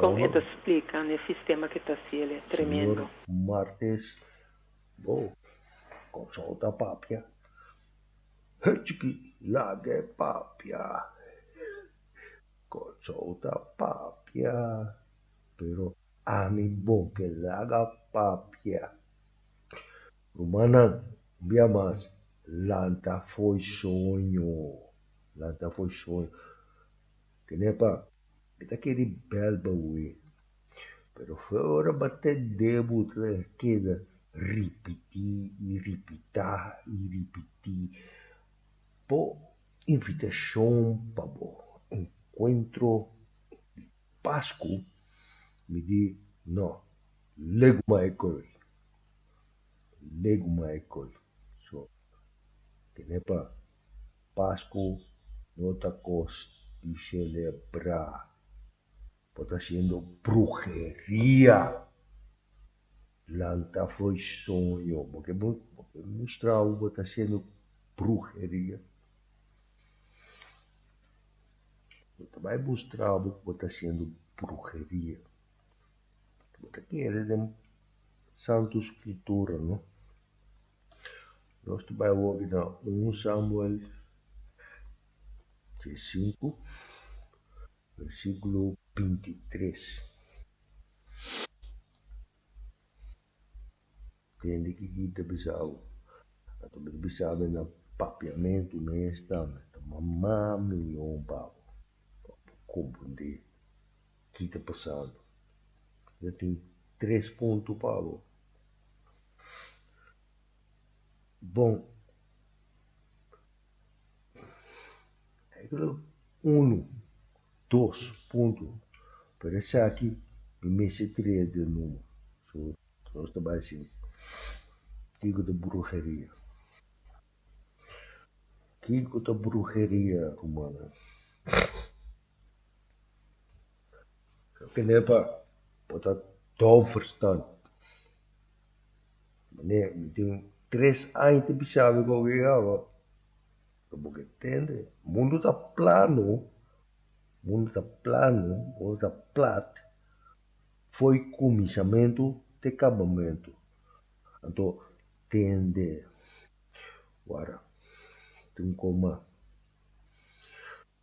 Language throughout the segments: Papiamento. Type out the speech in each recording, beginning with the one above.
Kon e ta splika un e sistema ke ta hasi el e tremendo. Señor Martes, Bo, konsou ta papia? He chiki, laga e papia. Konsou ta papia, pero ami bo ke laga papia. Rumannan, un bia mas, lanta fo'i soño, lanta fo'i soño. Kenepa, mi ta kere bel bawe. Pero fue ora m'a tende bo ta keda ripití i ripitá i ripití bo invitashon pa bo enkuentro di Pasku, mi di, No, legu m'ai koi. Legu m'ai koi. So, kenepa. Pascu no ta cos di celebra. Bo ta haciendo brujeria. Lanta fo'i soño. Bo ke bo ke mustra how bo ta haciendo brujeria? Bo ta bay mustra how ku bo ta haciendo brujeria. Bo ta kere den Santo Escritura no. Nos ta bai hopi na un Samuel chi sinku, versikulo binti tres. Tende kiko i ta bisa bo. Anto mi ta bisa mi na papiamentu mes tambe ta mama mi yon pabo pa por komprendé ki ta pasando. Mi ta tin tres punto pa bo. bon. Uno, dos, punto. Pero esaki mi mester trea di nuvo. So, nos ta bai sin kiko ta bruheria. Kiko ta bruheria, rumannan? Kende pa por ta dòf verstand, meneer mi tin tres aña tin pichala di gobièrnu, lo bo ke tende, mundu ta plano, mundu ta plano, mundu ta plat for e kuminsamentu te e kabamentu. Anto tende wara tin koma.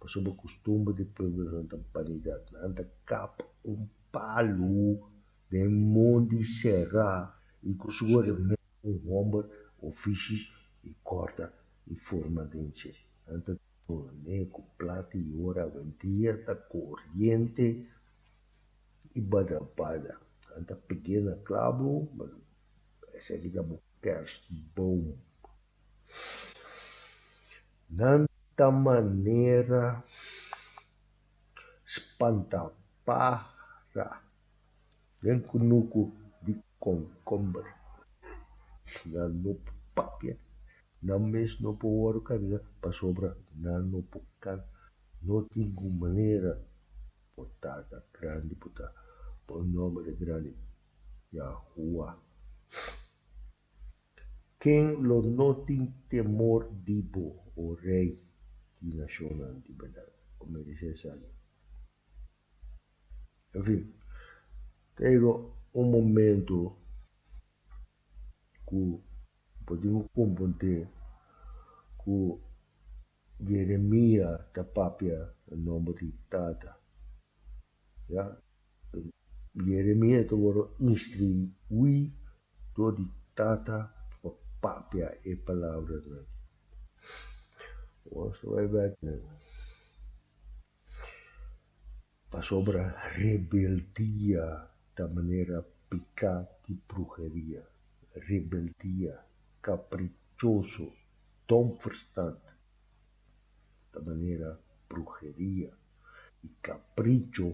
Pasobra kustumber di pueblonan ta banidad. Nan a ta kap un palu den mon di sera i ku su hermano un hòmber o fishi i kòrta i forma den dje. Nan ta durmé ku plata i ora awendia ta koriente i badabada. Nan ta pig'é na klabo, esei ki ta bo kerstboom. Nan ta manera spantapahra den kunuku di konkomber. Nan no por papia, nan mes no por wòrdu kabida pasobra nan no por kan. No tin ku manera bo ta ta grandi, bo ta pon nomber grandi, Yahuwah. Ken lo no tin temor di bo, O Rei di nashonnan? Di bèrdat, bo meresé esaki. Enfin, ta yega un momentu ku bo tin ku komprondé ku Jeremia ta papia na nomber di Tata. Ya. Jeremia ta wòrdu instruí dor di tata pa papia e palabranan. Awor bai bèk na pasobra rebeldia ta manera piká di bruheria, rebeldia, kaprichoso, domverstand. ta manera brujeria y capricho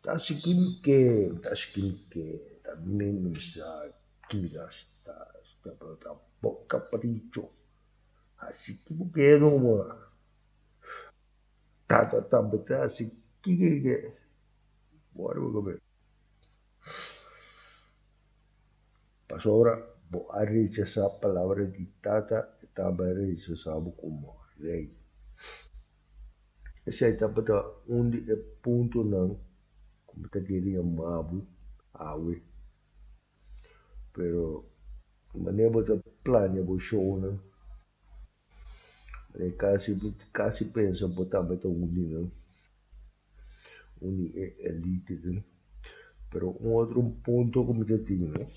ta haci kin ke, ta haci kin ke, ta minimiza kira sta sta pero ta bo capricho haci kin bo ke no bo a ta ta ta beta haci kin ke ke bo a riba cabesh. Pasobra bo a rechasá palabra di Tata e tambe a rechasá bo komo rei. Esei tabata un di e puntonan ku mi ta kere yamá bo awe. Pero di manera bo ta plania bo shownan, E casi mi casi pensa bo tambe ta uni nan, uni e elite nan. Pero un otro un punto cu mi ta tin no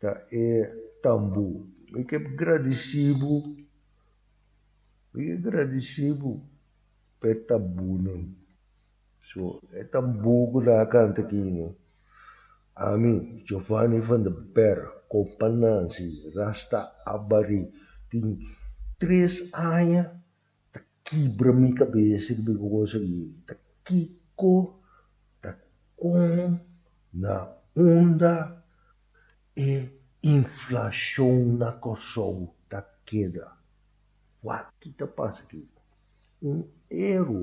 ta e tambo. Mi ke gradici bo, mi ke gradici bo per tambonan. So, e tambú ku ta kanta akí no. Ami, Giovanni van der Berg, kompa Nancy, Rasta Abari, tin tres aña ta kibra mi kabes riba e kos akí, ta kiko, ta kon, na unda e inflashon na Kòrsou ta keda. Wak ki ta pasa akí? Un ero.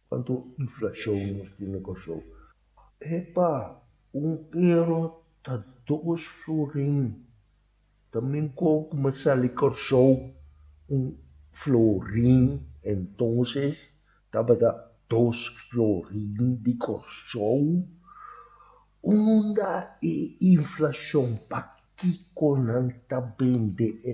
Cuanto inflacion nos tin na Corsou. Epa, un euro ta dos florin. Ta minko cu me sali Corsou un florin entonces tabata dos florin di Corsou. Unda e inflacion? Pakico nan ta bende e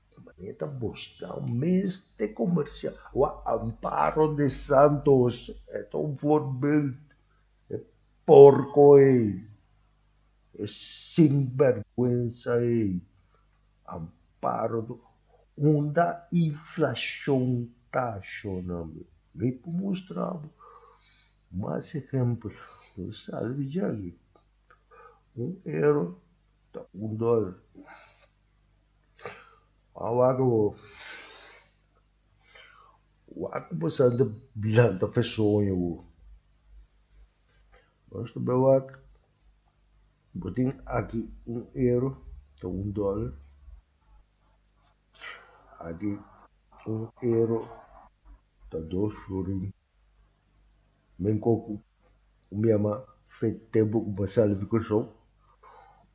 Ta maneta busca un meste comercial o a Amparo de Santos e ta un voorbeeld e porco ei e sinvergüenza ei Amparo de unda inflacion ta shona mi mi por mustra bo mas ehempel mi sa de biji aki un euro ta un dollar. A wak bo wak bo san ta blanta fe soño bo. Nos ta bai wak bo tin aki un euro ta un dollar aki un euro ta dos florin. Men ko ku un biama fe tempu ku bo sali di Kòrsou,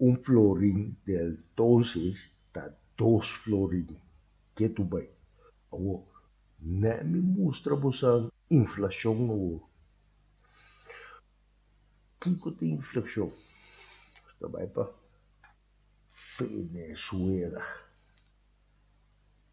un florin di el tonses ta dos florin. Ke tur bai. Awor, ne mi mustra bosan inflashon awor. Kiko ta inflashon? Nos ta bai pa Venezuela.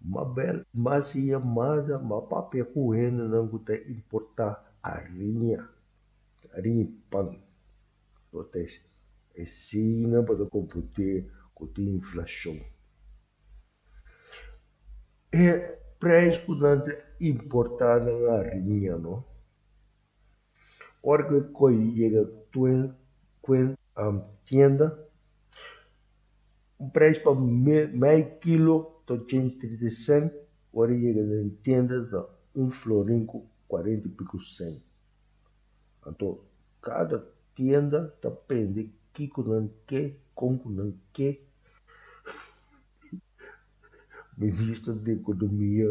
Mabel mas yamada ma papia ku hendenan ku ta importá ariña. Ariña i pan. Lo ta asina pa ta kompondé ku tin inflashon. E preis ku nan ta importá nan ariña no. Ora cu e coy yega cue tienda, un prijs pa mei kilo ta ochenta y trita cen, ora yega den tienda ta un florin cu cuarenta y pico cen. Anto cada tienda ta pende kico nan ke, con cu nan ke. Minister di economia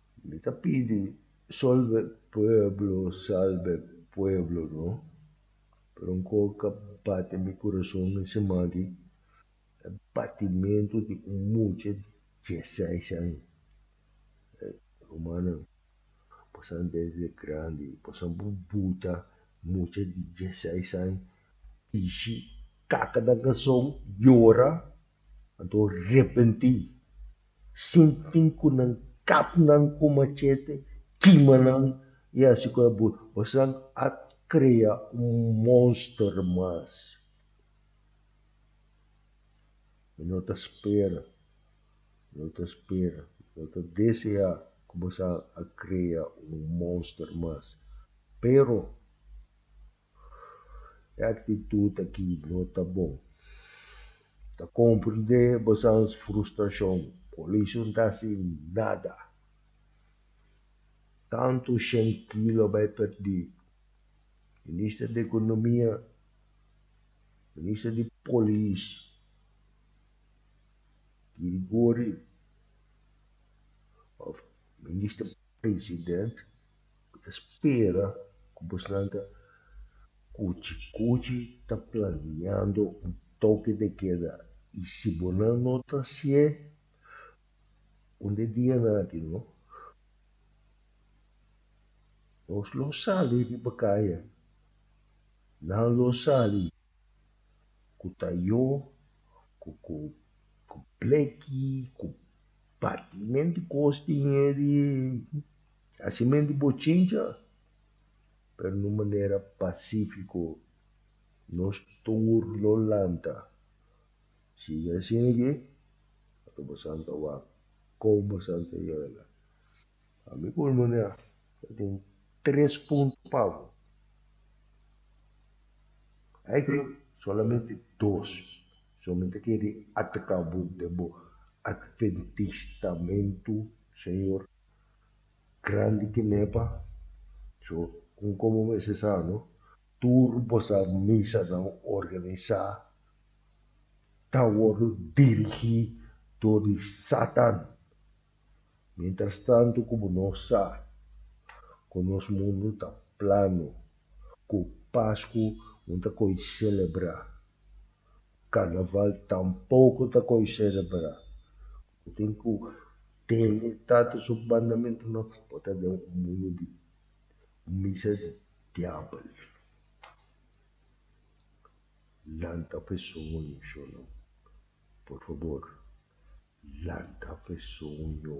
Mi ta pidi solbe pueblo salbe pueblo no pero nko ka bate mi kurason e siman aki e batimentu di un mucha di dieseis aña e rumannan bosan desde grandi bosan por buta mucha di dieseis aña dishi kaka nan kason yora Anto repentí, sin tin ku nan kap nan ku machete, kima nan i hasi ku e bur. Esnan a krea un monster mas. Mi no ta spera, mi no ta spera, mi no ta deseá ku boso a krea un monster mas. Pero E aktitut aki no ta bon. Ta komprendé bosones frustrashon. Koalishon ta hasi nada. Tantu shen ki lo bai pèrdí. Minister di Ekonomia, Minister di Polis, Girigory of Minister President. Cu ta spera cu bosnan ta cuchi cuchi ta planeando un toque de queda y si bo nan no ta hacié un de dia naki no nos lo sali riba caya nan lo sali cu ta yo cu cu Bleki cu patimenti cos tin e di. Asimenti bo chincha, pero n'un manera pacífico. Nos tur lo lanta. Sigui asina ke ata bo santa wak. Kou bo santa yega. Ami ku Olmonia ta tin tres punto pa bo. Aki solamente dos so mi ta kere ataka bo den bo adventistamentu, Señor. Grandi ki nepa, so un komo mester sa no, tur bosa misanan organisá ta wòrdu dirigí dor di Satan. Mientrastantu ku bo no sa ku nos mundu ta plano ku Pasku un ta koi selebrá, Karnaval tampoko ta koi selebrá. Bo tin ku tene Tata su mandamentunan, bo ta den un mundu di misa di diabel. Lanta pesoño, shonnan, por fabor, lanta pesoño.